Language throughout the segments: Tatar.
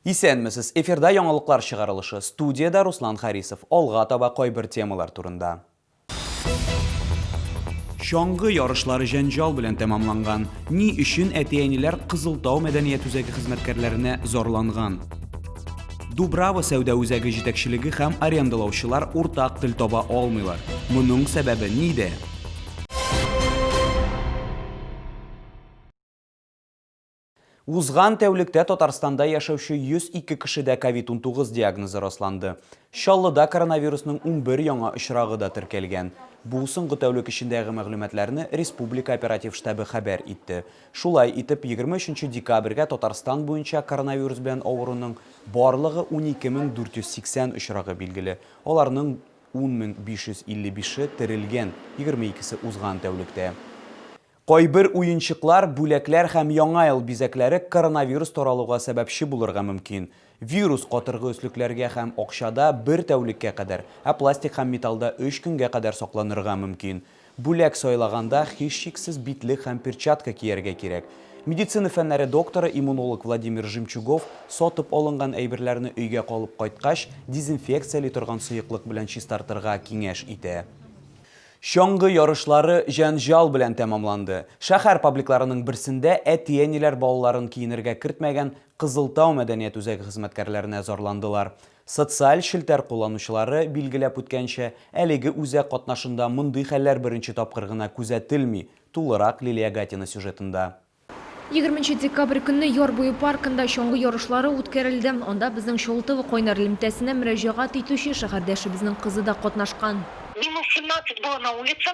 Исәнмесез! Эфирда яңалыклар чыгарылышы. Студиядә Руслан Харисов. Алга таба кайбер темалар турында. Чаңгы ярышлары җәнҗал белән тәмамланган. Ни өчен әти-әниләр Кызылтау мәдәният үзәге хезмәткәрләренә зарланган? Дубрава сәүдә үзәге җитәкчелеге һәм арендалаучылар уртак тел таба алмыйлар. Моның сәбәбе нидә? Узган тәүлектә Татарстанда яшәүче 102 кешедә COVID-19 диагнозы расланды. Чаллыда коронавирусның 11 яңа очрагы да теркәлгән. Бу соңгы тәүлек эчендәге мәгълүматларны республика оператив штабы хәбәр итте. Шулай итеп, егерме өченче декабрьгә Татарстан буенча коронавирус белән авыруның барлыгы 12480 очрагы билгеле, аларның 10555-е терелгән, егерме икесе узган тәүлектә. Кайбер уенчыклар, бүләкләр һәм Яңа ел бизәкләре коронавирус таралуга сәбәпче булырга мөмкин, Вирус катыргы өслекләргә һәм акчада бер тәүлеккә кадәр, ә пластик һәм металлда өч көнгә кадәр сакланырга мөмкин. Бүләк сайлаганда, һичшиксез, битлек һәм перчатка кияргә кирәк. Медицина фәннәре докторы, иммунолог Владимир Жемчугов сатып алынган әйберләрне өйгә алып кайткач, дезинфекцияли торган сыеклык белән чистартырга киңәш итә. Чаңгы ярышлары җәнҗал белән тәмамланды. Шәһәр пабликларының берсендә әти-әниләр балаларын киенергә кертмәгән Кызыл Тау мәдәният үзәге хезмәткәрләренә зарландылар. Социаль челтәр кулланучылары билгеләп үткәнчә, әлеге үзәк катнашында мондый хәлләр беренче тапкыр гына күзәтелми, тулырак Лилия Гатина сюжетында. Егерменче декабрь көнне Яр буе паркында чаңгы ярышлары үткәрелде. Анда безнең Чолтова кайнар элемтәсенә мөрәҗәгать итүче шәһәрдәшебезнең кызы да катнашкан. Минус семнадцать было на улице.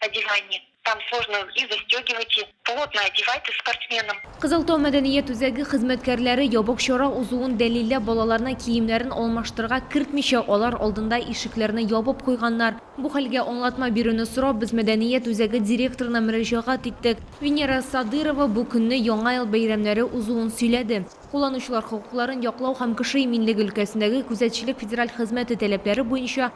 Одевание, там сложно и застегивать и, плотно одевать и спортсменам. Кызыл Тау мәдәният үзәге хезмәткәрләре ябык чара узуын дәлилләп балаларны киемнәрен алмаштырырга кертмичә алар алдында ишекләрне ябып куйганнар. Бу хәлгә аңлатма бирүне сорап без мәдәният үзәге директорына мөрәҗәгать иттек. Венера Садырова бу көнне Яңа ел бәйрәмнәре узуын сөйләде. Кулланучылар хокукларын яклау һәм кеше иминлеге өлкәсендәге күзәтчелек федераль хезмәте таләпләре буенча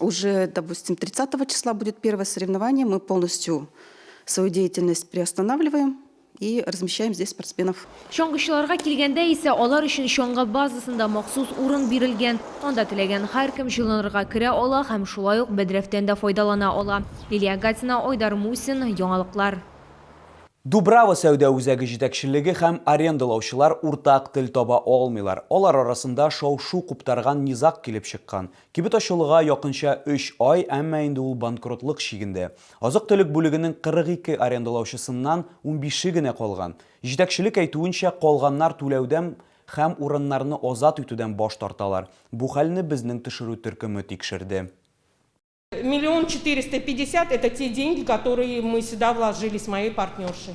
уже, допустим, 30 числа будет первое соревнование, мы полностью свою деятельность приостанавливаем и размещаем здесь спортсменов. Чаңгычыларга килгәндә исә алар өчен чаңгы базасында махсус урын бирелгән. Анда теләгән һәркем җылынырга керә ала һәм шулай ук бәдрәфтән дә файдалана ала. Лилия Гатина, Айдар Мусин, Яңалыклар. Дубрава сәүдә үзәге җитәкчелеге һәм арендалаучылар уртак тел таба алмыйлар. Алар арасында шау-шу куптарган низаг килеп чыккан. Кибет ачылуга якынча өч ай, әмма инде ул банкротлык чигендә. Азык-төлек бүлегенең 42 арендалаучысыннан унбише генә калган. Җитәкчелек әйтүенчә, калганнар түләүдән һәм урыннарны азат итүдән баш тарталар. Бу хәлне безнең төшерү төркеме тикшерде. Миллион четыреста пятьдесят, это те деньги, которые мы сюда вложили с моей партнершей.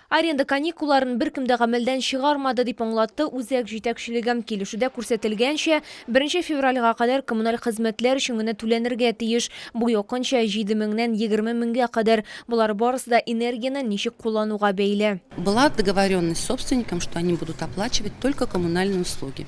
Аренда каникулларын беркем дә гамәлдән чыгармады, дип аңлатты үзәк җитәкчелеге. Килешүдә күрсәтелгәнчә, беренче февральгә кадәр коммуналь хезмәтләр өчен генә түләнергә тиеш. Бу якынча җиде меңнән егерме меңгә кадәр. Болар барысы да энергияне ничек куллануга бәйле. Была договоренность с собственником, что они будут оплачивать только коммунальные услуги.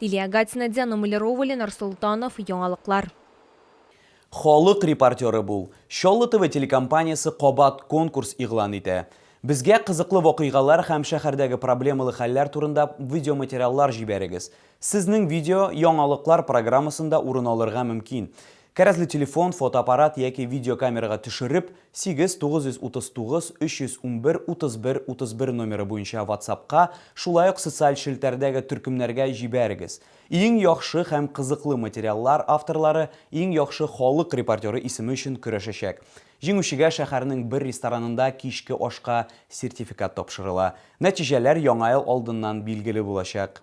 Лилия Гатина, Диана Малярова, Ленар Солтанов, Яңалыклар. Халык репортеры бул! Чаллы ТВ телекомпаниясе кабат конкурс игълан итә. Безгә кызыклы вакыйгалар һәм шәһәрдәге проблемалы хәлләр турында видеоматериаллар җибәрегез. Сезнең видео Яңалыклар программасында урын алырга мөмкин. Кәрәзле телефон, фотоаппарат яки видеокамерага төшереп, 8 939 311 31 31 номеры буенча ватсапка, шулай ук социаль челтәрдәге төркемнәргә җибәрегез. Иң яхшы һәм кызыклы материаллар авторлары иң яхшы халык репортеры исеме өчен көрәшәчәк. Җиңүчегә шәһәрнең бер ресторанында кичке ашка сертификат тапшырыла. Нәтиҗәләр Яңа ел алдыннан билгеле булачак.